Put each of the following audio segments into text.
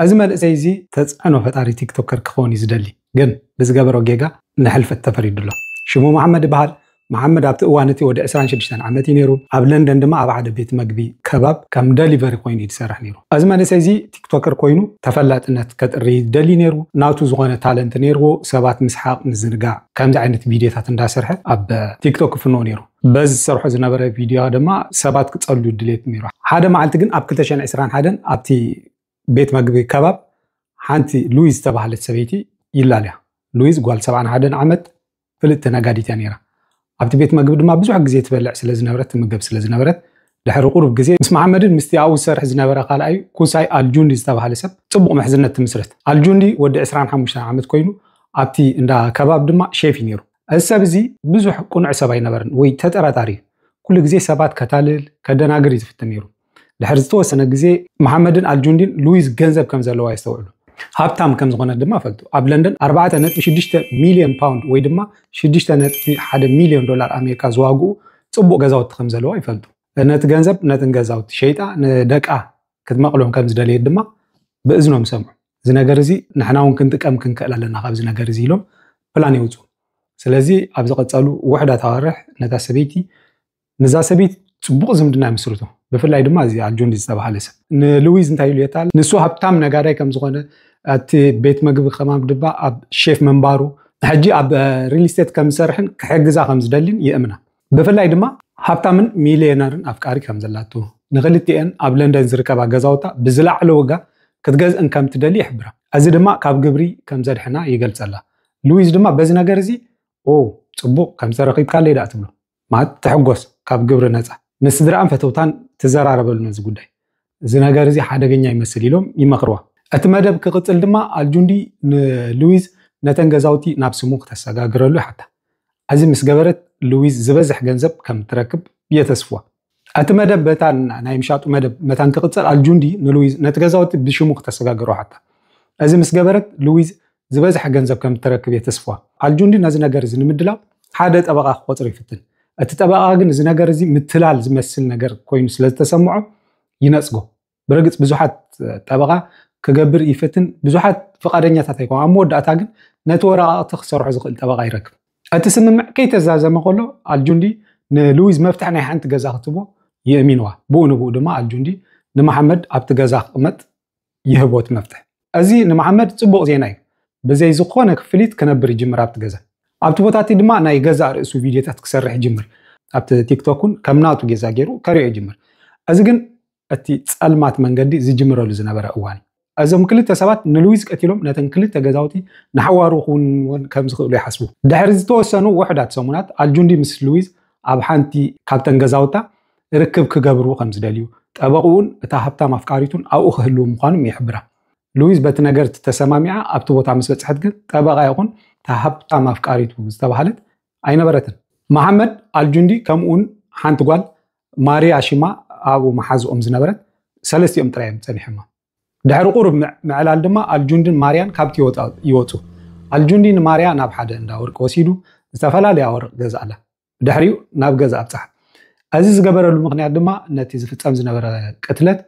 ኣዚ መንእሰይ እዚ ተጽዕኖ ፈጣሪ ቲክቶከር ክከውን እዩ ዝደሊ ግን ብዝገበሮ ጌጋ ንሕልፈት ተፈሪዱ ኣሎ ሽሙ መሓመድ ይበሃል መሓመድ ኣብቲ እዋን እቲ ወዲ ዕስራን ሽዱሽተን ዓመት እዩ ኔሩ ኣብ ለንደን ድማ ኣብ ሓደ ቤት መግቢ ከባብ ከም ደሊቨሪ ኮይኑ እዩ ዝሰርሕ ኔሩ ኣዚ መንእሰይ እዚ ቲክቶከር ኮይኑ ተፈላጥነት ከጥሪ እዩ ዝደሊ ኔሩ ናቱ ዝኮነ ታለንት ኔርዎ ሰባት ምስሓቅ ምዝንጋዕ ከምዚ ዓይነት ቪድዮታት እንዳሰርሐ ኣብ ቲክቶክ ክፍንዎ ኔሩ በዚ ዝሰርሖ ዝነበረ ቪድዮ ድማ ሰባት ክጸልዩ ድሌት ነይሩ። ሓደ መዓልቲ ግን ኣብ ክልተ ሽሕን ዕስራን ሓደን ኣብቲ ቤት መግቢ ከባብ ሓንቲ ሉዊዝ ዝተባህለት ሰበይቲ ይላለያ። ሉዊዝ ጓል ሰብዓን ሓደን ዓመት ፍልጥቲ ነጋዲት እያ ነይራ። ኣብቲ ቤት መግቢ ድማ ብዙሕ ግዜ ትበልዕ ስለ ዝነበረት ትምገብ ስለ ዝነበረት ድሕሪ ቁሩብ ግዜ ምስ መሓመድን ምስቲ ኣብኡ ዝሰርሕ ዝነበረ ካልኣዩ ኩሳይ ኣልጁንዲ ዝተባህለ ሰብ ጽቡቕ ምሕዝነት ትምስርት። ኣልጁንዲ ወዲ ዕስራን ሓሙሽተን ዓመት ኮይኑ ኣብቲ እንዳ ከባብ ድማ ሼፍ እዩ ነይሩ። እዚ ሰብ እዚ ብዙሕ ቅኑዕ ሰብ ኣይነበርን ወይ ተጠራጣሪ እዩ። ኩሉ ግዜ ሰባት ከታልል፣ ከደናግር እዩ ዝፍትን ነይሩ። ድሕሪ ዝተወሰነ ግዜ መሓመድን ኣልጁንዲን ሉዊዝ ገንዘብ ከም ዘለዋ የስተውዕሉ። ሃብታም ከም ዝኾነት ድማ ፈልጡ። ኣብ ለንደን ኣርባዕተ ነጥቢ ሽዱሽተ ሚልዮን ፓውንድ ወይ ድማ ሽዱሽተ ነጥቢ ሓደ ሚልዮን ዶላር ኣሜሪካ ዝዋግኡ ጽቡቕ ገዛውቲ ከም ዘለዋ ይፈልጡ። ነቲ ገንዘብ ነትን ገዛውቲ ሸይጣ ንደቃ ክትመቕሎም ከም ዝደለየት ድማ ብእዝኖም ይሰምዑ። እዚ ነገር እዚ ንሕና እውን ክንጥቀም ክንክእል ኣለና ካብዚ ነገር እዚ ኢሎም ፕላን የውፅኡ ስለዚ ኣብ ዝቐፀሉ ውሕዳት ኣዋርሕ ነታ ሰበይቲ ንዛ ሰበይቲ ፅቡቕ ዝምድና ይምስርቱ ብፍላይ ድማ እዚ ኣጆን ዝተባሃለ ሰብ ንሉዊዝ እንታይ ኢሉ የታል ንሱ ሃብታም ነጋዳይ ከም ዝኾነ እቲ ቤት መግቢ ከማም ድማ ኣብ ሼፍ ምንባሩ ሕጂ ኣብ ሪል ስቴት ከም ዝሰርሕን ክሕግዛ ከም ዝደልን ይእምና ብፍላይ ድማ ሃብታምን ሚልየነርን ኣፍቃሪ ከም ዘላቶ፣ ንኽልቲኤን ኣብ ለንደን ዝርከባ ገዛውታ ብዝለዓለ ዋጋ ክትገዝእን ከም እትደሊ ይሕብራ። እዚ ድማ ካብ ግብሪ ከም ዘድሕና ይገልጸላ። ሉዊዝ ድማ በዚ ነገር እዚ ኦ ጽቡቕ ከም ዝተረኺብካለይ ደኣ ትብሎ፣ ማለት ትሕጎስ ካብ ግብሪ ነጻ። ምስ ስድራኣን ፈተውታን ትዘራረበሉ ነዚ ጉዳይ። እዚ ነገር እዚ ሓደገኛ ይመስል ኢሎም ይመኽርዋ። እቲ መደብ ክቕጽል ድማ ኣልጁንዲ ንሉዊዝ ነተን ገዛውቲ ናብ ስሙ ክተሰጋግረሉ ይሓታ። እዚ ምስ ገበረት ሉዊዝ ዝበዝሕ ገንዘብ ከም እትረክብ የተስፍዋ። እቲ መደብ በታ ናይ ምሻጡ መደብ መታን ክቕጽል ኣልጁንዲ ንሉዊዝ ነቲ ገዛውቲ ብሽሙ ክተሰጋግሮ ሓታ። እዚ ምስ ገበረት ሉዊዝ ዝበዝሐ ገንዘብ ከም እተረክብ የተስፍዋ። ኣልጁንዲ ነዚ ነገር እዚ ንምድላው ሓደ ጠበቓ ክቖጽር ይፍትን። እቲ ጠበቓ ግን እዚ ነገር እዚ ምትላል ዝመስል ነገር ኰይኑ ስለ ዝተሰምዖ ይነጽጎ። ብርግጽ ብዙሓት ጠበቓ ክገብር ይፍትን፣ ብዙሓት ፍቓደኛታት ኣይኰኑን። ኣብ መወዳእታ ግን ነቲ ወረቓቕቲ ክሰርሖ ዝኽእል ጠበቓ ይረክብ። እቲ ስምምዕ ከይተዛዘመ ኸሎ ኣልጁንዲ ንሉዊዝ መፍትሕ ናይ ሓንቲ ገዛ ክትቦ የእሚንዋ። ብኡ ንብኡ ድማ ኣልጁንዲ ንመሓመድ ኣብቲ ገዛ ክቕመጥ ይህቦ እቲ መፍትሕ። እዚ ንመሓመድ ጽቡቕ ዜና እዩ። ብዘይ ዝኾነ ክፍሊት ክነብር ይጅምር ኣብቲ ገዛ። ኣብቲ ቦታ እቲ ድማ ናይ ገዛእ ርእሱ ቪድዮታት ክሰርሕ ይጅምር። ኣብቲ ቲክቶክ እውን ከም ናቱ ጌዛ ገይሩ ከርእዮ ይጅምር። እዚ ግን እቲ ጸልማት መንገዲ ዝጅምረሉ ዝነበረ እዋን እዩ። እዞም ክልተ ሰባት ንሉዊዝ ቀቲሎም ነተን ክልተ ገዛውቲ ንሓዋሩ ክውንንወን ከም ዝኽእሉ ይሓስቡ። ድሕሪ ዝተወሰኑ ውሑዳት ሰሙናት ኣልጁንዲ ምስ ሉዊዝ ኣብ ሓንቲ ካብተን ገዛውታ ርክብ ክገብሩ ከም ዝደልዩ፣ ጠበቕኡን እታ ሃብታም ኣፍቃሪቱን ኣብኡ ክህልዉ ምዃኑም ይሕብራ። ሉዊዝ በቲ ነገርት ተሰማሚዓ ኣብቲ ቦታ ምስ በጽሐት ግን ጠበቓ ይኹን እታ ሃብታም ኣፍቃሪቱ ዝተባህለት ኣይነበረትን። መሓመድ ኣልጁንዲ ከምኡውን ሓንቲ ጓል ማሪያ ሽማ ኣብኡ መሓዝኦም ዝነበረት ሰለስቲኦም ጥራይ እዮም ጸኒሖማ። ድሕሪ ቁሩብ ምዕላል ድማ ኣልጁንድን ማሪያን ካብቲ ይወጹ። ኣልጁንዲ ንማሪያ ናብ ሓደ እንዳ ወርቂ ወሲዱ ዝተፈላለየ ኣወርቅ ገዝኣላ። ብድሕሪኡ ናብ ገዛ ኣብጽሓ። እዚ ዝገበረሉ ምኽንያት ድማ ነቲ ዝፍጸም ዝነበረ ቅትለት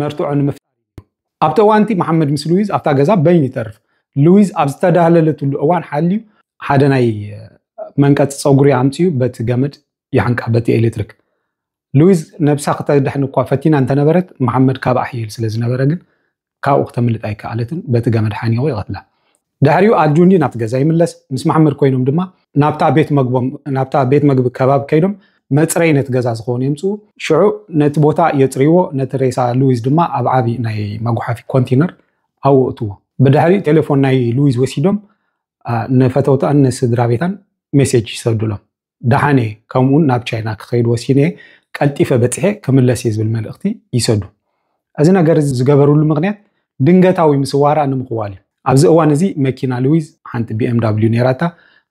መርትዖ ንምፍጣር ኢዩ። ኣብቲ እዋን'ቲ መሓመድ ምስ ሉዊዝ ኣብታ ገዛ በይኑ ይተርፍ። ሉዊዝ ኣብ ዝተዳህለለትሉ እዋን ሓልዩ ሓደ ናይ መንቀጺ ጸጉሪ ኣምጺኡ በቲ ገመድ ይሓንቃ፣ በቲ ኤለትሪክ። ሉዊዝ ነብሳ ክተድሕን እኳ ፈቲና እንተነበረት፣ መሓመድ ካብኣ ሕይል ስለ ዝነበረ ግን ካብኡ ክተምልጥ ኣይከኣለትን፣ በቲ ገመድ ሓኒቑ ይቐትላ። ድሕሪኡ ኣልጁንዲ ናብቲ ገዛ ይምለስ፣ ምስ መሓመድ ኮይኖም ድማ ናብታ ቤት መግቦም ናብታ ቤት መግቢ ከባቢ ከይዶም መጽረይ ነቲ ገዛ ዝኸውን የምጽኡ። ሽዑ ነቲ ቦታ የጽርይዎ፣ ነቲ ሬሳ ሉዊዝ ድማ ኣብ ዓቢ ናይ መጉሓፊ ኮንቲነር ኣብኡ እእትዎ። ብድሕሪኡ ቴሌፎን ናይ ሉዊዝ ወሲዶም ንፈተውታኣን ንስድራቤታን ሜሴጅ ይሰዱሎም። ደሓን እየ፣ ከምኡውን ናብ ቻይና ክኸይድ ወሲነ እየ፣ ቀልጢፈ በጺሐ ክምለስ እየ ዝብል መልእኽቲ ይሰዱ። እዚ ነገር እዚ ዝገበርሉ ምኽንያት ድንገታዊ ምስዋራ ንምኽዋል እዩ። ኣብዚ እዋን እዚ መኪና ሉዊዝ ሓንቲ ቢኤምዳብልዩ ነይራታ፣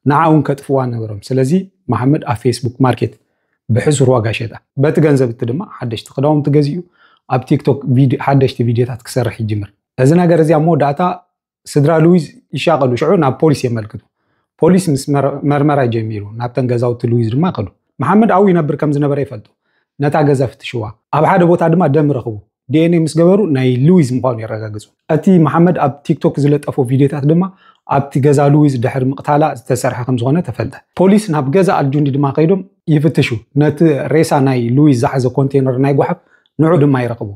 ንዓ እውን ከጥፍዋ ነበሮም። ስለዚ መሓመድ ኣብ ፌስቡክ ማርኬት ብሕሱር ዋጋ ሸጣ። በቲ ገንዘብ እቲ ድማ ሓደሽቲ ክዳውንቲ ገዚኡ፣ ኣብ ቲክቶክ ሓደሽቲ ቪድዮታት ክሰርሕ ይጅምር። እዚ ነገር እዚ ኣብ መወዳእታ ስድራ ሉዊዝ ይሻቐሉ፣ ሽዑ ናብ ፖሊስ የመልክቱ። ፖሊስ ምስ መርመራ ጀሚሩ፣ ናብተን ገዛውቲ ሉዊዝ ድማ ከዱ። መሓመድ ኣብኡ ይነብር ከም ዝነበረ ይፈልጡ። ነታ ገዛ ፍትሽዋ፣ ኣብ ሓደ ቦታ ድማ ደም ረኽቡ። ዲኤንኤ ምስ ገበሩ ናይ ሉዊዝ ምዃኑ የረጋግጹ። እቲ መሓመድ ኣብ ቲክቶክ ዝለጠፎ ቪድዮታት ድማ ኣብቲ ገዛ ሉዊዝ ድሕሪ ምቕታላ ዝተሰርሐ ከም ዝኾነ ተፈልጠ። ፖሊስ ናብ ገዛ ኣልጁንዲ ድማ ከይዶም ይፍትሹ። ነቲ ሬሳ ናይ ሉዊዝ ዝሓዘ ኮንቴነር ናይ ጓሓፍ ንዑ ድማ ይረኽቡ።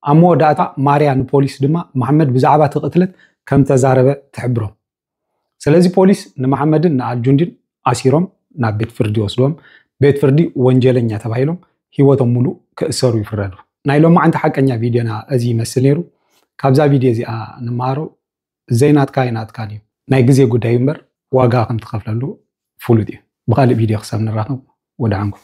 ኣብ መወዳእታ ማርያ ንፖሊስ ድማ መሓመድ ብዛዕባ እቲ ቅትለት ከም ተዛረበ ትሕብሮም። ስለዚ ፖሊስ ንመሓመድን ንኣልጁንዲን ኣሲሮም ናብ ቤት ፍርዲ ይወስድዎም። ቤት ፍርዲ ወንጀለኛ ተባሂሎም ህይወቶም ሙሉእ ክእሰሩ ይፍረዱ። ናይ ሎማዕንቲ ሓቀኛ ቪድዮና እዚ ይመስል ነይሩ። ካብዛ ቪድዮ እዚኣ ንመሃሮ ዘይናትካ ኣይናትካን እዩ። ናይ ግዜ ጉዳይ እዩ እምበር ዋጋ ከም ትኸፍለሉ ፍሉጥ እዩ። ብኻሊእ ቪድዮ ክሳብ ንራኸብ ወደዓንኩም።